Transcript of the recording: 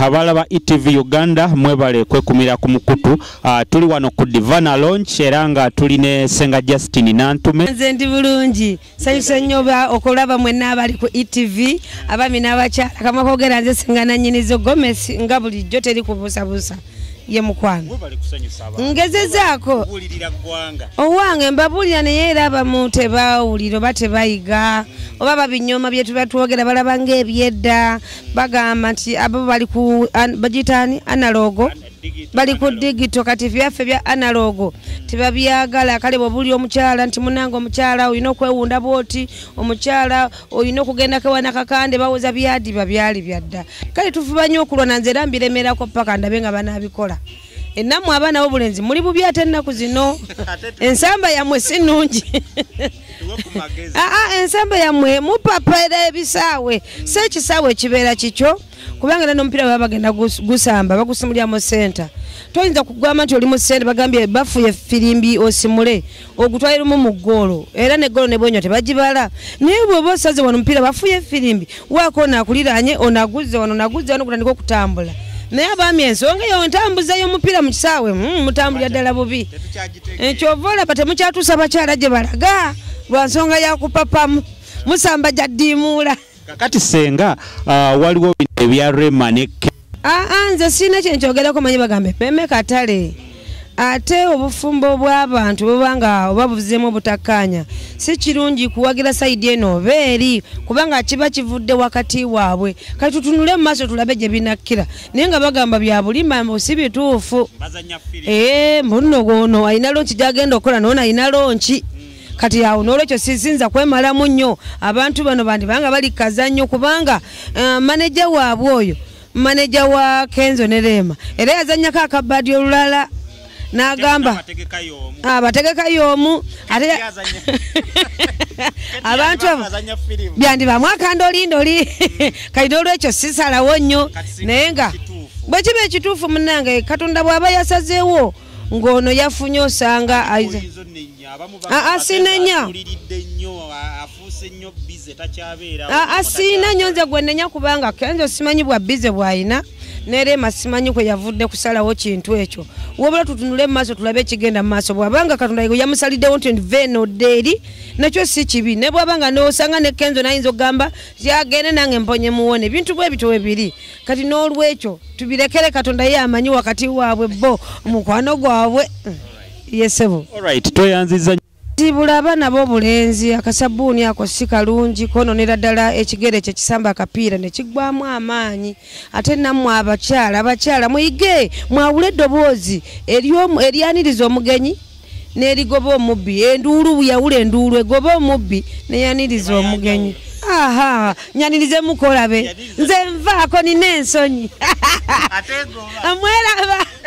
abaala ba etv uganda mwebale kwekumira ku mukutu uh, tuli wano ku divana launch era nga tuli ne senga justine nantume nze ndi bulungi sanyusa nnyo okulaba mwenna abali ku etv abami n'abakyala kamakogera nze senga nanyinizo gomes nga bulijjo teri kubuusabuusa ye mukwano ngezezaako owange mbabuulira naye era abamu tebawulira oba tebayiga oba babinyooma byetuba twogera balaba ngaebyedda bagamba nti abo bali ku bagitaani analogo bali ku digito kati byaffe bya analogo tebabyagala kale bwobuli omukyala nti munange omukyala olina okwewunda bwoti omukyala olina okugenda kewana kakande bawoza byadiba byali byadda kale tufuba nyo okulwana nze era mbiremerako paka ndabe nga banabikola enamwe abaana bobulenzi muli bubi ate ennaku zino ensamba yamwe si nungi aa ah, ah, ensamba yamwe mupapaera ebisaawe si ekisaawe ekibeera kikyo kubanga era nomupiira baba bagenda gusamba bagusimulyamu senta toyinza kugamba nti oli mu sente bagambye bafuye firimbi osimule ogutwali lumu mu ggoolo era ne ggoolo ne bwenya tebagibala naye bw'oba osaze wano omupiira bafuye efirimbi waako ono akuliraanye ono aguzze wano naguzze wano gutandika okutambula naye abaami ensonga eyo ntambuza y'omupiira mu kisaawe hmm, mutambulira ddala bubi ekyova eh, olaba temukyatuusa bakyala gye balaga lwa nsonga yakupapamu musamba gyaddiimuula kakati senga uh, waliwo bino ebya rema ne ah, ah, nze sirina kyenkyogerako manyi bagambe meme katale ate obufumbo bw'abantu buba nga oba buzeemu obutakkaanya si kirungi kuwagira sayidi eno oba eri kubanga kiba kivudde wakati waabwe kati tutunule mu maaso tulabe gye binakkira naye nga bagamba bya bulima mbu si bituufu ee eh, mbuno gwono alina lonki gyagenda okukola noona alina lonki kati awo nolwekyo sisinza kwemalamu nnyo abantu bano bandibanga bali kaza nnyo kubanga uh, eh, maneja waabwe oyo maneja wa kenzo ne leema era yazanyako akabadi olulala nagamba abategeka yomu ah, ate abantu abo byandibamu akanda olinda oli mm. kati nolwekyo sisalawo nnyo naye nga bwekiba ekituufu munange katonda bwaba yasazeewo ng'ono yafunye osanga asinenya asiina nyo nze gwenenya kubanga kenzo simanyi bwa bize bwalina nerema simanyi kwe yavudde kusalawo kintu ekyo wabula tutunule mumaaso tulabe ekigenda mumaaso bwabanga katonda yamusaliddewo nti vena odde eri nakyo si kibi ne bwabanga nosanga ne kenzo nayinza okugamba yagende nange mponye muwone ebintu bwe bityo webiri kati n'olwekyo tubirekere katonda ye amanyi wakati waabwe bo omukwano gwabwe mm. yesebo alright tweyanziza tibula abana bo bulenzi akasabuuni ako si kalungi kononera ddala ekigere kye kisamba akapiira ne kigwamu amaanyi ate nammwe abakyala abakyala muyige mwawule eddoboozi eryaniriza omugenyi nerigoba omubbi enduulu yawula enduulu egoba omubbi neyaniriza omugenyi aha nyanirize mukolabe nze nvaako nina ensonyi amweraba